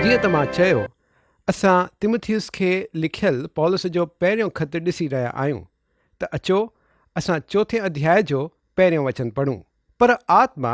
جيئن ته مان چيو، اسان تيموٿيوس کي لکيل پولس جو پهريون خط ڏسي رهيا آهيون، ته اچو، اسان چوٿين اڌيائي جو پهريون وچن پڙهون، پر آتما،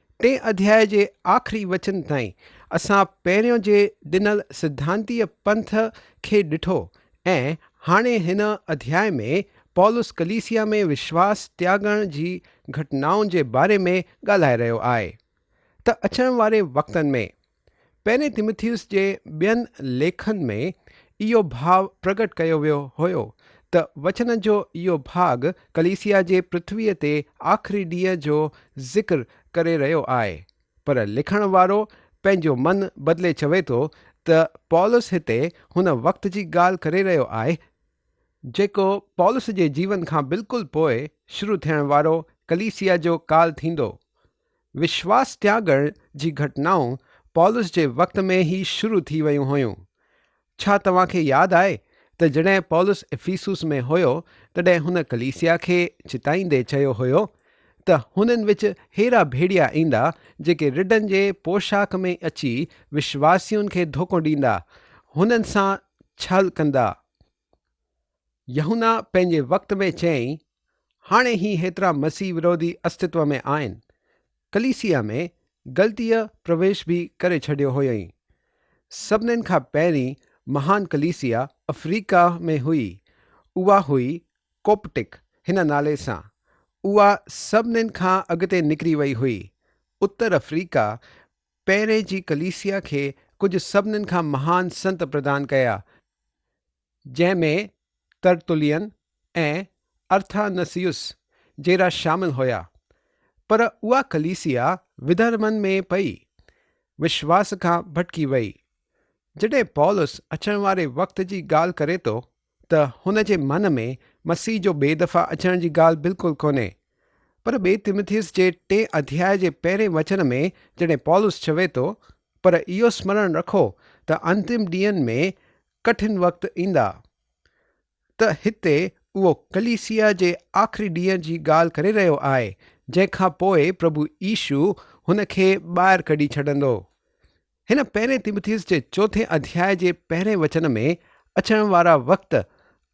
ٽئين اڌياء جي آخري وچن تائين اسان پهريون جي ڏنل سڌانتيء پنٿ کي ڏٺو ۽ هاڻي هن اڌياء ۾ پولس ڪليسيا ۾ وشواس تياڳڻ جي گهٽنائن جي باري ۾ ڳالهائي رهيو آهي ته اچڻ واري وقتن ۾. پهرين تيموٿيوس جي ٻين ليکن ۾ اهو ڀاء پرگهٽ ڪيو ويو هيو ته وچن جو اهو ڀاڳ ڪليسيا جي پرٿويء تي آخري ڏينهن جو ذڪر ڪري رهيو آهي، پر لکڻ وارو پنهنجو من بدلي چوي ٿو ته پولس هتي هن وقت جي ڳالهه ڪري رهيو آهي جيڪو پولس جي جيون کان بلڪل پوء شروع ٿيڻ وارو ڪليسيا جو ڪال ٿيندو وشواس تياڳڻ جي گهٽنائون پولس جي وقت ۾ ئي شروع ٿي ويون هيون. ڇا توهان کي ياد آهي ته جڏهن پولس افيسوس ۾ هيو تڏهن هن ڪليسيا کي چتائيندي چيو هيو ته هنن وچ ههڙا ڀيڙيا ايندا جيڪي رڍن جي پوشاڪ ۾ اچي وشواسين کي ڌوڪو ڏيندا هنن سان ڇل ڪندا يحنا پنهنجي وقت ۾ چيائين، هاڻي هي هيترا مسيح وروڌي استتو ۾ آهن، ڪليسيا ۾ غلطيء پرويش به ڪري ڇڏيو هيائين. سڀني کان پهرين مهان ڪليسيا افريقا ۾ هئي، اها هئي ڪوپٽڪ هن نالي سان، اها سڀني کان اڳتي نڪري وئي هئي. اتر افريقا پهرين جي ڪليسيا کي ڪجهه سڀني کان مهان سنت پردان ڪيا، جنهن ۾ ترتلين ۽ ارٿانسيوس جهڙا شامل هيا، پر اها ڪليسيا وڌرمن ۾ پئي وشواس کان ڀٽڪي ويئي. جڏهن پولس اچڻ واري وقت جي ڳالهه ڪري ٿو ته هن جي من ۾ مسيح جو ٻئي دفعا اچڻ جي ڳالهه بلڪل ڪونهي. پر ٻئي تيموٿيوس جي ٽئين اڌياء جي پهرين وچن ۾ جڏهن پولس چوي ٿو پر اهو سمرڻ رکو ته انتم ڏينهن ۾ ڪٺن وقت ايندا ته هتي اهو ڪليسيا جي آخري ڏينهن جي ڳالهه ڪري رهيو آهي جنهن کان پوء پرڀو عيسو هن کي ٻاهر ڪڍي ڇڏندو. هن پهرين تيموٿيس جي چوٿين اڌياء جي پهرين وچن ۾ اچڻ وارا وقت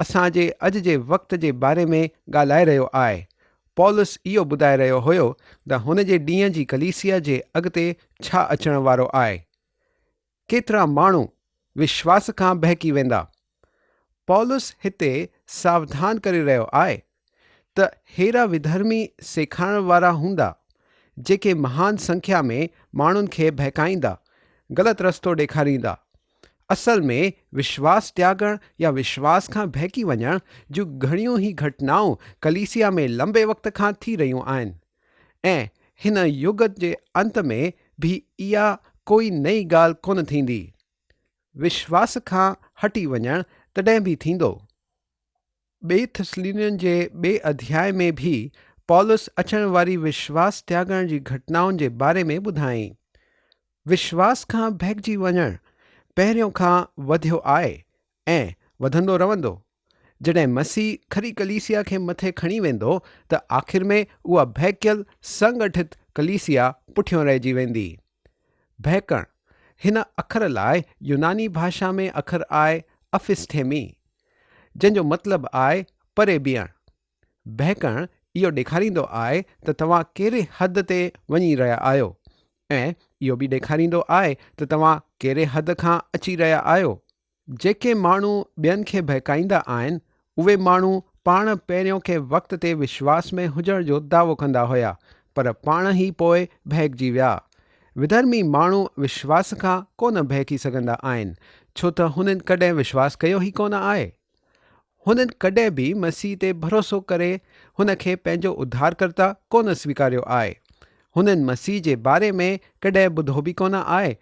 اسان جي اڄ جي وقت جي باري ۾ ڳالهائي رهيو آهي. پولس اهو ٻڌائي رهيو هيو ته هن جي ڏينهن جي ڪليسيا جي اڳتي ڇا اچڻ وارو آهي. ڪيترا ماڻهو وشواس کان بهڪي ويندا. پولس هتي ساوڌان ڪري رهيو آهي ته ههڙا وڌرمي سيکارڻ وارا هوندا، جيڪي مهان سنکيا ۾ ماڻهن کي بهڪائيندا، غلط رستو ڏيکاريندا. اصل ۾ وشواس تياڳڻ يا وشواس کان بهڪي وڃڻ جون گهڻيون ئي گهٽنائون ڪليسيا ۾ لنبي وقت کان ٿي رهيون آهن. ۽ هن يگ جي انت ۾ به اها ڪوئي نئين ڳالهه ڪونه ٿيندي. وشواس کان هٽي وڃڻ تڏهن به ٿيندو. ٻئي ٿسلونين جي ٻئي اڌياء ۾ به پولس اچڻ واري وشواس تياڳڻ جي گهٽنائن جي باري ۾ ٻڌائين. وشواس کان بهڪجي وڃڻ پهريون کان وڌيو آء ائين وڌندو رهندو. جڏهن مسيح کري ڪليسيا کي مٿي کڻي ويندو ته آخر ۾ اها ڀهڪيل سنگٺت ڪليسيا پٺيون رهجي ويندي. ڀهڪڻ، هن اکر لاء يوناني ڀاشا ۾ اکر آهي Aphisthemi، جنهن جو مطلب آهي پري بيهڻ. ڀهڪڻ اهو ڏيکاريندو آهي ته توهان ڪهڙي حد تي وڃي رهيا آهيو ۽ اهو به ڏيکاريندو آهي ته توهان ڪهڙي حد کان اچي رهيا آهيو. جيڪي ماڻهو ٻين کي بهڪائيندا آهن، اهي ماڻهو پاڻ پهريون ڪنهن وقت تي وشواس ۾ هجڻ جو دعوو ڪندا هيا، پر پاڻ ئي پوء بهڪجي ويا. وڌرمي ماڻهو وشواس کان ڪو نه بهڪي سگهندا آهن، ڇو ته هنن ڪڏهن وشواس ڪيو ئي ڪو نه آهي. هنن ڪڏهن به مسيح تي ڀروسو ڪري هن کي پنهنجو اڌارڪرتا ڪو نه سويڪاريو آهي. هنن مسيح جي باري ۾ ڪڏهن ٻڌو به ڪو نه آهي ۽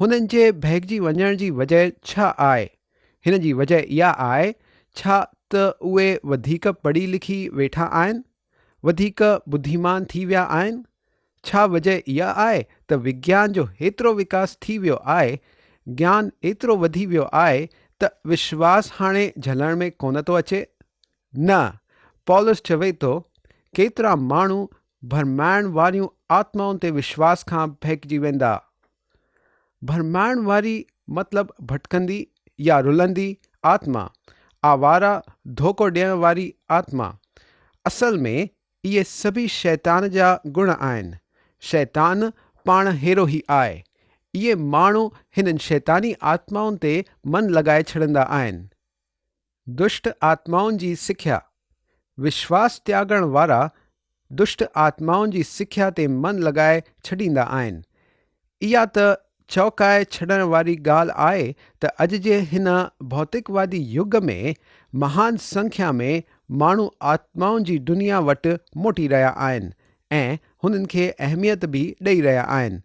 هنن جي بهڪجي وڃڻ جي وجه ڇا آهي؟ هن جي وجه اها آهي ڇا ته اهي وڌيڪ پڙهي لکي ويٺا آهن؟ وڌيڪ ٻڌيمان ٿي ويا آهن؟ ڇا وجه اها آهي ته وگيان جو هيترو وڪاس ٿي ويو آهي، گيان ايترو وڌي ويو آهي ته وشواس هاڻي جهلڻ ۾ ڪونه ٿو اچي؟ نه، پولس چوي ٿو، ڪيترا ماڻهو ڀرمائڻ واريون آتمائن تي وشواس کان ڀئڪجي ويندا. ڀرمائڻ واري مطلب ڀٽڪندي يا رلندي آتما، آواره، ڌوڪو ڏيڻ واري آتما. اصل ۾ اهي سڀئي شيطان جا گڻ آهن. شيطان پاڻ هيرو ئي آء. اهي ماڻهو هنن شيطاني آتمائن تي من لڳائي ڇڏندا آهن. دشٽ آتمائن جي سکيا، وشواس تياڳڻ وارا دشٽ آتمائن جي سکيا تي من لڳائي ڇڏيندا آهن. اها ته چؤڪائي ڇڏڻ واري ڳالهه آهي ته اڄ جي هن ڀوتڪوادي يگ ۾ مهان سنکيا ۾ ماڻهو آتمائن جي دنيا وٽ موٽي رهيا آهن ۽ هنن کي اهميت به ڏئي رهيا آهن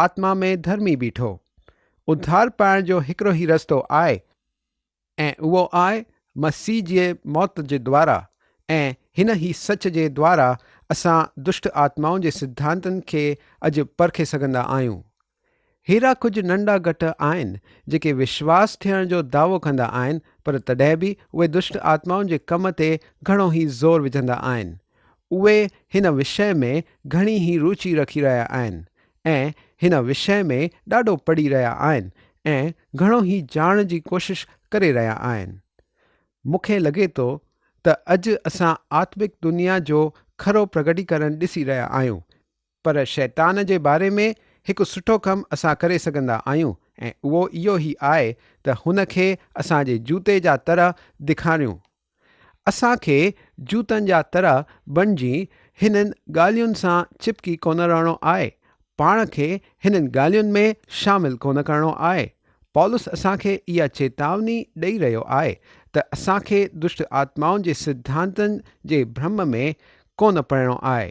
آتما ۾ ڌرمي بيٺو. اڌار پائڻ جو هڪڙو هي رستو آء ۽ اهو آء مسيح جي موت جي دوارا ۽ هن هي سچ جي دوارا اسان دشٽ آتمائن جي سڌانتن کي اڄ پرکي سگهندا آهيون. ههڙا ڪجهه ننڍا گٽ آهن جيڪي وشواس ٿيڻ جو دعوو ڪندا آهن پر تڏهن به اهي دشٽ آتمائن جي ڪم تي گهڻو هي زور وجهندا آهن اهي هن وشيه ۾ گهڻي ئي روچي رکي رهيا آهن ۽ هن وشيه ۾ ڏاڍو پڙهي رهيا آهن ۽ گهڻو ئي ڄاڻڻ جي ڪوشش ڪري رهيا آهن. مون کي لڳي ٿو ته اڄ اسان آتمڪ دنيا جو کرو پرگٽيڪرڻ ڏسي رهيا آهيون. پر شيطان جي باري ۾ هڪ سٺو ڪم اسان ڪري سگهندا آهيون ۽ اهو اهو هي آهي ته هن کي اسان جي جوتي جا تر دکاريون. اسان کي جوتن جا تر بڻجي هنن ڳالهين سان چپڪي ڪونه رهڻو آهي، پاڻ کي هنن ڳالهين ۾ شامل ڪونه ڪرڻو آهي. پولس اسان کي اها چيتاوني ڏئي رهيو آهي ته اسان کي دشٽ آتمائن جي سڌانتن جي ڀرم ۾ ڪونه پئڻو آهي.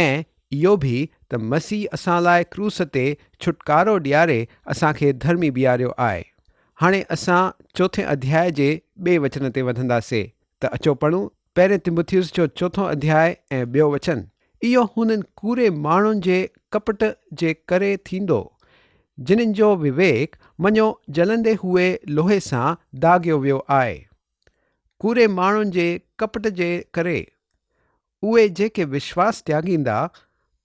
۽ اهو به ته مسيح اسان لاء ڪروس تي ڇوٽڪارو ڏياري اسان کي ڌرمي بيهاريو آء. هاڻي اسان چوٿين اڌياء جي ٻئي وچن تي وڌندا سي ته اچو پڙهون پهرين تموٿيوس جو چوٿون اڌياء ۽ ٻيو وچن. اهو هنن ڪوڙي ماڻهن جي ڪپٽ جي ڪري ٿيندو، جنن جو وويڪ مڃيو جلندي هوئي لوهي سان داغيو ويو آء. ڪوڙي ماڻهن جي ڪپٽ جي ڪري. اهي جيڪي وشواس تياڳيندا،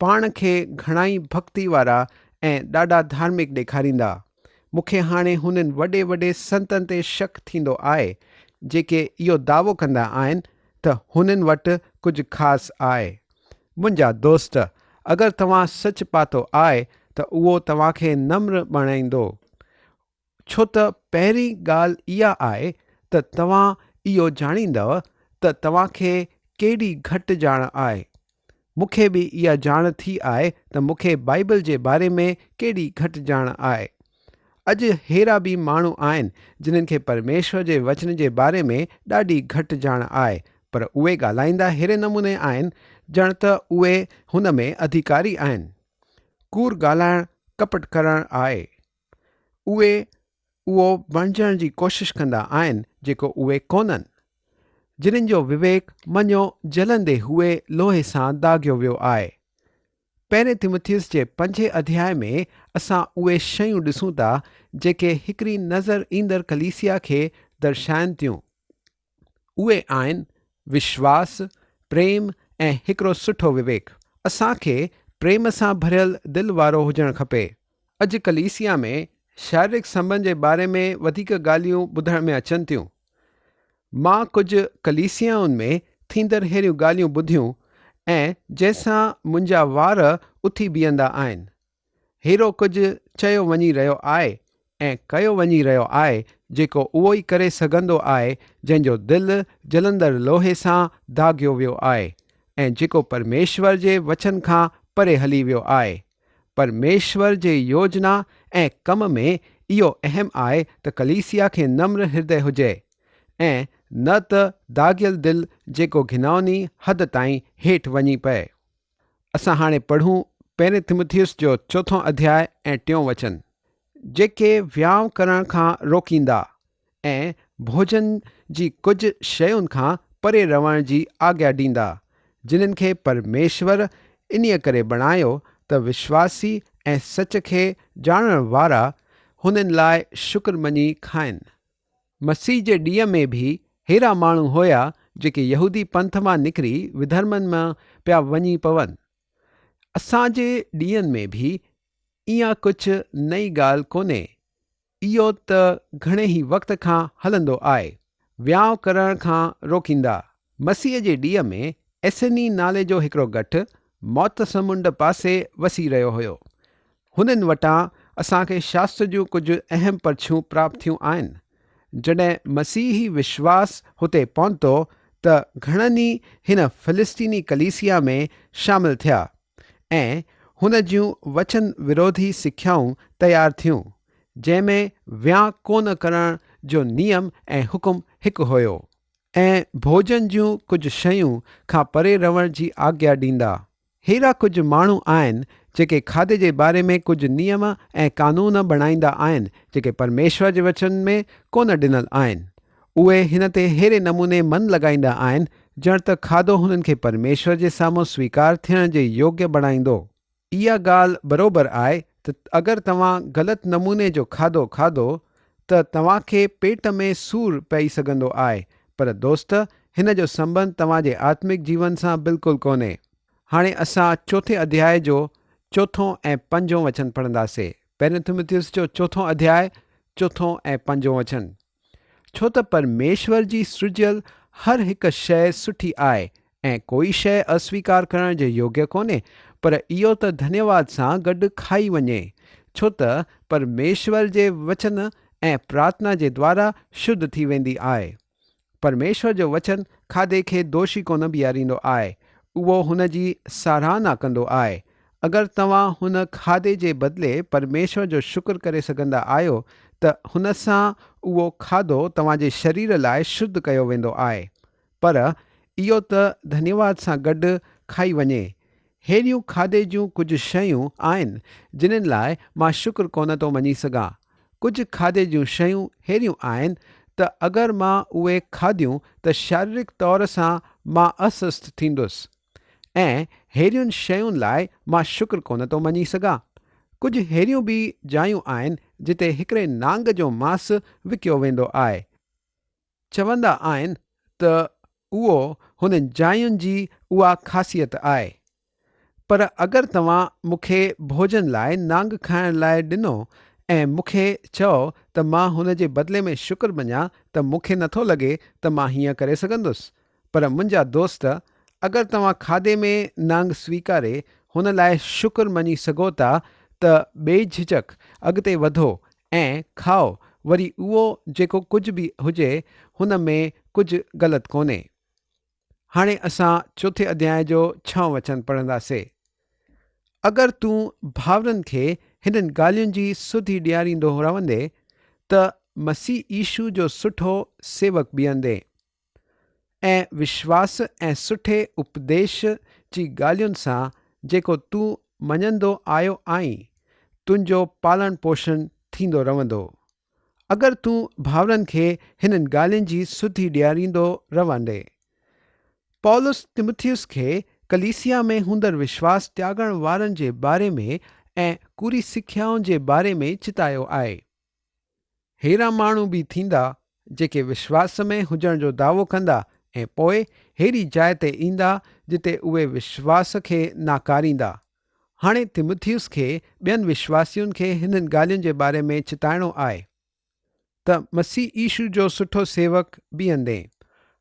پاڻ کي گهڻائي ڀڳتي وارا ۽ ڏاڍا ڌارمڪ ڏيکاريندا. مون کي هاڻي هنن وڏي وڏي سنتن تي شڪ ٿيندو آهي، جيڪي اهو دعوو ڪندا آهن ته هنن وٽ ڪجهه خاص آهي. منهنجا دوست! اگر توهان سچ پاتو آهي ته اهو توهان کي نمر بڻائيندو. ڇو ته پهرين ڳالهه اها آهي ته توهان اهو ڄاڻيندؤ ته توهان کي ڪيڏي گهٽ ڄاڻ آهي. مون کي به اها ڄاڻ ٿي آهي ته مون کي بائيبل جي باري ۾ ڪيڏي گهٽ ڄاڻ آهي. اڄ ههڙا به ماڻهو آهن جنهن کي پرميشور جي وچن جي باري ۾ ڏاڍي گهٽ ڄاڻ آهي پر اهي ڳالهائيندا ههڙي نموني آهن ڄڻ ته اهي هن ۾ اڌيڪاري آهن. ڪوڙ ڳالهائڻ ڪپٽ ڪرڻ آهي. اهي اهو بڻجڻ جي ڪوشش ڪندا آهن جيڪو اهي ڪونهن. جنھن جو وويڪ مڃيو جلندي هوئي لوهي سان داغيو ويو آهي. پهرين تيموٿيوس جي پنجين اڌيائي ۾ اسان اهي شيون ڏسون ٿا جيڪي هڪڙي نظر ايندڙ ڪليسيا کي درشائن ٿيون. اهي آهن وشواس، پريم ۽ هڪڙو سٺو وويڪ. اسان کي پريم سان ڀريل دل وارو هجڻ کپي. اڄ ڪليسيا ۾ شاريرڪ سنٻنڌ جي باري ۾ وڌيڪ ڳالهيون ٻڌڻ ۾ اچن ٿيون. مان ڪجهه ڪليسيائن ۾ ٿيندڙ ههڙيون ڳالهيون ٻڌيون ۽ جنهن سان منهنجا وار اٿي بيهندا آهن. هيرو ڪجهه چيو وڃي رهيو آء ۽ ڪيو وڃي رهيو آء جيڪو اهو ئي ڪري سگهندو آء جنهن جو دل جلندڙ لوهي سان داغيو ويو آء ۽ جيڪو پرميشور جي وچن کان پري هلي ويو آء. پرميشور جي يوجنا ۽ ڪم ۾ اهو اهم آء ته ڪليسيا کي نمر هردئي هجئي ۽ نه ته داغيل دل جيڪو گهنائوني حد تائين هيٺ وڃي پئي. اسان هاڻي پڙهون پهرين تموٿيوس جو چوٿون اڌياء ۽ ٽيون وچن. جيڪي ويام ڪرڻ کان روڪيندا ۽ ڀوڄن جي ڪجهه شين کان پري رهڻ جي آگيا ڏيندا، جنن کي پرميشور انهيء ڪري بڻايو ته وشواسي ۽ سچ کي ڄاڻڻ وارا هنن لاء شڪر مڃي کائن. مسيح جي ڏينهن ۾ به ههڙا ماڻهو هيا جيڪي يهودي پنٿ مان نڪري وڌرمن ۾ پيا وڃي پون. اسان جي ڏينهن ۾ به اها ڪجهه نئين ڳالهه ڪونهي. اهو ته گهڻي ئي وقت کان هلندو آئي. ويانء ڪرڻ کان روڪيندا، مسيء جي ڏينهن ۾ ايسيني نالي جو هڪڙو ڳٺ موت سمنڊ پاسي وسي رهيو هيو. هنن وٽان اسان کي شاستر جون ڪجهه اهم پرچيون پراپت ٿيون آهن. جڏهن مسيحي وشواس هتي پهتو ته گهڻن ئي هن فلسطيني ڪليسيا ۾ شامل ٿيا ۽ هن جون وچن وروڌي سکيائون تيار ٿيون جنهن ۾ ويان ڪونه ڪرڻ جو نيم ۽ حڪم هڪ هيو ۽ ڀوڄن جون ڪجهه شيون کان پري رهڻ جي آگيا ڏيندا. هيرا ڪجهه ماڻهو آهن جيڪي کاڌي جي باري ۾ ڪجهه نيم ۽ قانون بڻائيندا آهن جيڪي پرميشور جي وچن ۾ ڪونه ڏنل آهن. اهي هن تي ههڙي نموني من لڳائيندا آهن ڄڻ ته کاڌو هنن کي پرميشور جي سامهون سويڪار ٿيڻ جي يوگيه بڻائيندو. اها ڳالهه بروبر آهي ته اگر توهان غلط نموني جو کاڌو کاڌو ته توهان کي پيٽ ۾ سور پئي سگهندو آهي پر دوست هن جو سنٻنڌ توهان جي آتمڪ جيون سان بلڪل ڪونهي. هاڻي اسان چوٿين اڌياء جو چوٿون ۽ پنجون وچن پڙهنداسي پهريون تموٿيوس جو چوٿون اڌياء چوٿون ۽ پنجون وچن. ڇو ته پرميشور جي سرجيل هر هڪ شيء سٺي آهي ۽ ڪوئي شيء اسويڪار ڪرڻ جي يوگيه ڪونهي پر اهو ته ڌنيواد سان گڏ کائي وڃي ڇو ته پرميشور جي وچن ۽ پرارٿنا جي دوارا شڌ ٿي ويندي آهي. پرميشور جو وچن کاڌي کي دوشي ڪونه بيهاريندو آهي اهو هن جي ساراهنا ڪندو آهي اگر توهان هن کاڌي جي بدلي پرميشور جو شڪر ڪري سگهندا آهيو ته هن سان اهو کاڌو توهان جي شرير لاء شڌ ڪيو ويندو آهي. پر اهو ته ڌنيواد سان گڏ کائي وڃي. ههڙيون کاڌي جون ڪجهه شيون آهن جنن لاء مان شڪر ڪونه ٿو مڃي سگهان. ڪجهه کاڌي جون شيون ههڙيون آهن ته اگر مان اهي کاڌيون ته شاريرڪ طور سان مان اسسٿ ٿيندس. ۽ ههڙين شين لاء مان شڪر ڪونه ٿو مڃي سگهان. ڪجهه ههڙيون به جايون آهن جتي هڪڙي نانگ جو ماس وڪيو ويندو آهي. چوندا آهن ته اهو هن جاين جي اها خاصيت آهي. پر اگر توهان مون کي ڀوڄن لاء نانگ کائڻ لاء ڏنو ۽ مون کي چئو ته مان هن جي بدلي ۾ شڪر مڃان ته مون کي نٿو لڳي ته مان هيئن ڪري سگهندس. پر منهنجا دوست اگر توهان کاڌي ۾ نانگ سويڪاري هن لاء شڪر مڃي سگهو ٿا ته بي جهجڪ اڳتي وڌو ۽ کائو وري اهو جيڪو ڪجهه به هجي هن ۾ ڪجهه غلط ڪونهي. هاڻي اسان چوٿين اڌيائي جو ڇهون وچن پڙهنداسي. اگر تون ڀائرن کي هنن ڳالهين جي سڌي ڏياريندو رهندين ته مسيح عيشو جو سٺو سيوڪ بيهندين. ۽ وشواس ۽ سٺي اپديش جي ڳالهين سان جيڪو تون مڃندو آيو آهين، تنهنجو پالڻ پوشڻ ٿيندو رهندو. اگر تون ڀائرن کي هنن ڳالهين جي سڌي ڏياريندو رهندي. پولس تموٿيوس کي ڪليسيا ۾ هوندڙ وشواس تياڳڻ وارن جي باري ۾ ۽ ڪوري سکيائن جي باري ۾ چتايو آهي. ههڙا ماڻهو به ٿيندا جيڪي وشواس ۾ هجڻ جو دعوو ڪندا ۽ پوء ههڙي جاء تي ايندا جتي اهي وشواس کي ناڪاريندا. هاڻي تيموٿيوس کي ٻين وشواسين کي هنن ڳالهين جي باري ۾ چتائڻو آهي ته مسيح عيشو جو سٺو سيوڪ بيهندين.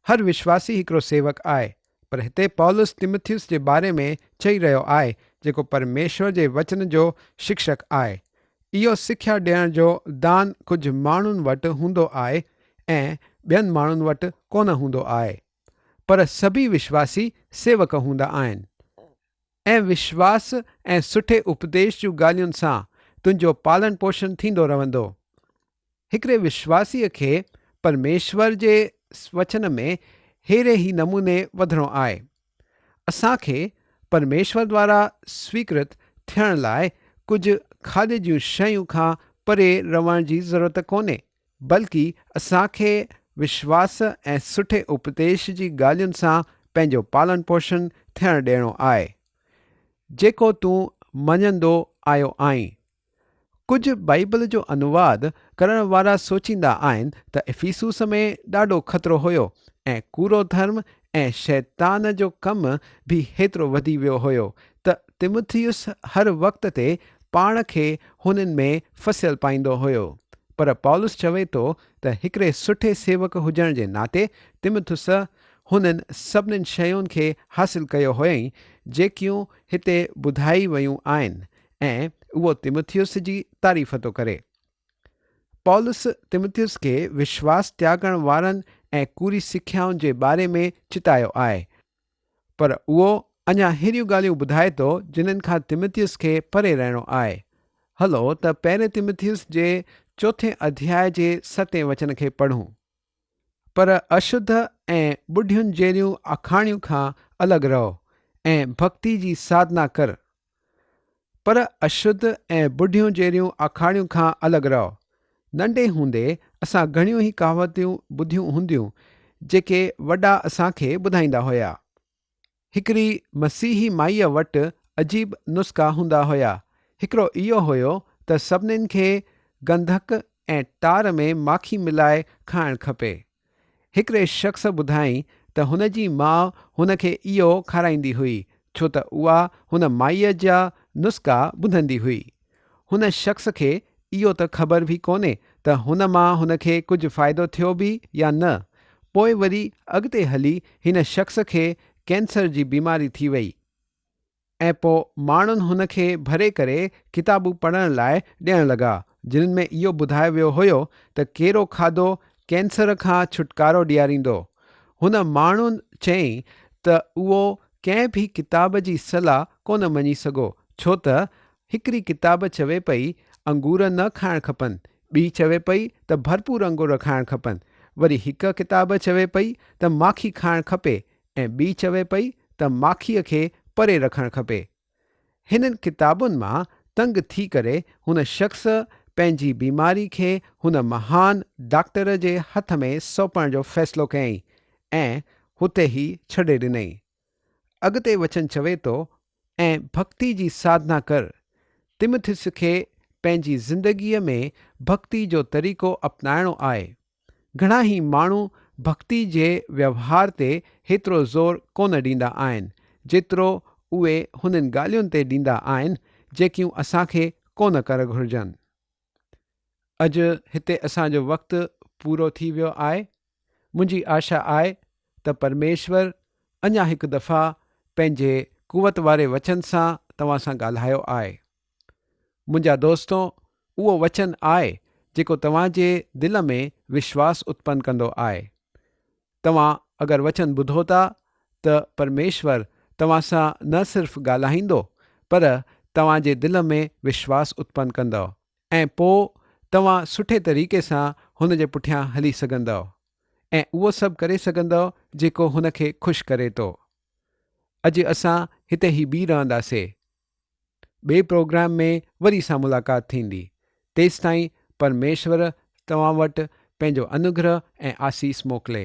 هر وشواسي هڪڙو سيوڪ آهي. پر هتي پولس تيمٿيوس جي باري ۾ چئي رهيو آهي جيڪو پرميشور جي وچن جو شڪشڪ آهي. اهو سکيا ڏيڻ جو دان ڪجهه ماڻهن وٽ هوندو آهي ۽ ٻين ماڻهن وٽ ڪونه هوندو آهي. پر سڀئي وشواسي سيوڪ هوندا آهن. ۽ وشواس ۽ سٺي اپديش جون ڳالهين سان تنهنجو پالڻ پوشڻ ٿيندو رهندو. هڪڙي وشواسيء کي پرميشور جي وچن ۾ ههڙي ئي نموني وڌڻو آهي. اسان کي پرميشور دوارا سويڪرت ٿيڻ لاء ڪجهه کاڌي جون شيون کان پري رهڻ جي ضرورت ڪونهي. بلڪ اسان کي وشواس ۽ سٺي اپديش جي ڳالهين سان پنهنجو پالڻ پوشڻ ٿيڻ ڏيڻو آهي. جيڪو تون مڃندو آيو آهين. ڪجهه بائيبل جو انواد ڪرڻ وارا سوچيندا آهن ته افيسوس ۾ ڏاڍو خطرو هيو ۽ ڪوڙو ڌرم ۽ شيطان جو ڪم به هيترو وڌي ويو هيو ته تيموٿيوس هر وقت تي پاڻ کي هنن ۾ ڦسيل پائيندو هيو. پر پولس چوي ٿو ته هڪڙي سٺي سيوڪ هجڻ جي ناتي تيموٿيوس هنن سڀني شين کي حاصل ڪيو هيائين جيڪيون هتي ٻڌائي ويون آهن ۽ اهو تيموٿيوس جي تعريف ٿو ڪري. پولس تيموٿيوس کي وشواس تياڳڻ وارن ۽ ڪوري سکيائن جي باري ۾ چتايو آهي. پر اهو اڃا اهڙيون ڳالهيون ٻڌائي ٿو، جنھن کان تيمٿيوس کي پري رهڻو آهي. هلو ته پهرين تيمٿيوس جي چوٿين اڌياء جي ستين وچن کي پڙهون. پر اشڌ ۽ ٻڍين جهڙيون آکاڻيون کان الڳ رهو ۽ ڀڳتي جي ساڌنا ڪر، پر اشڌ ۽ بڍيون جهڙيون آکاڻيون کان الڳ رهو. ننڍي هوندي اسان گهڻيون هي ڪهاوتون ٻڌيون هونديون جيڪي وڏا اسان کي ٻڌائيندا هيا. هڪڙي مسيحي مائيء وٽ عجيب نسخا هوندا هيا. هڪڙو اهو هيو ته سڀنين کي گنڌڪ ۽ ٽار ۾ ماکي ملائي کائڻ کپي. هڪڙي شخص ٻڌائين ته هن جي ماء هن کي اهو کارائيندي هئي ڇو ته اها هن مائيء جا نسخا ٻڌندي هئي. هن شخص کي اهو ته خبر به ڪونهي ته هن مان هن کي ڪجهه فائدو ٿيو به يا نه. پوء وري اڳتي هلي هن شخص کي ڪينسر جي بيماري ٿي وئي. ۽ پوء ماڻهن هن کي ڀري ڪري ڪتابون پڙهڻ لاء ڏيڻ لڳا، جنھن ۾ اهو ٻڌايو ويو هيو ته ڪهڙو کاڌو ڪينسر کان ڇوٽڪارو ڏياريندو. هن ماڻهن چيائين ته اهو ڪنھن به ڪتاب جي صلاح ڪونه مڃي سگهو، ڇو ته هڪڙي ڪتاب چوي پئي انگور نه کائڻ کپن، ٻي چوي پئي ته ڀرپور انگور کائڻ کپن، وري هڪ ڪتاب چوي پئي ته ماکي کائڻ کپي ۽ ٻي چوي پئي ته ماکيء کي پري رکڻ کپي. هنن ڪتابن مان تنگ ٿي ڪري هن شخص پنهنجي بيماري کي هن مهان ڊاڪٽر جي هٿ ۾ سونپڻ جو فيصلو ڪيائين ۽ هتي ئي ڇڏي ڏنائين. اڳتي وچن چوي ٿو، ۽ ڀڳتي جي ساڌنا ڪر. تمٿيس کي پنهنجي زندگيء ۾ ڀڳتي جو طريقو اپنائڻو آهي. گهڻا ئي ماڻهو ڀڳتي جي ويوهار تي هيترو زور ڪونه ڏيندا آهن، جيترو اهي هنن ڳالهين تي ڏيندا آهن، جيڪيون اسان کي ڪونه ڪر گهرجن. اڄ هتي اسان جو وقت پورو ٿي ويو آهي. منهنجي آشا آهي ته پرميشور اڃا هڪ دفعا پنهنجي قوت واري وچن سان توهان سان ڳالهايو آهي. منهنجا دوستو، اهو وچن آء جيڪو توهان جي دل ۾ وشواس اتپن ڪندو آء. توهان اگر وچن ٻڌو ٿا ته پرميشور توهان سان نه صرف ڳالهائيندو پر توهان جي دل ۾ وشواس اتپن ڪندؤ ۽ پوء توهان سٺي طريقي سان هن جي پٺيان هلي سگهندؤ ۽ اهو سڀ ڪري سگهندؤ جيڪو هن کي خوش ڪري ٿو. اڄ اسان هتي ئي بيهي رهنداسي ٻئي پروگرام ۾ وري سان ملاقات ٿيندي. تيستائين پرميشور توهان وٽ پنهنجو انوگرهه ۽ آسيس موڪلي.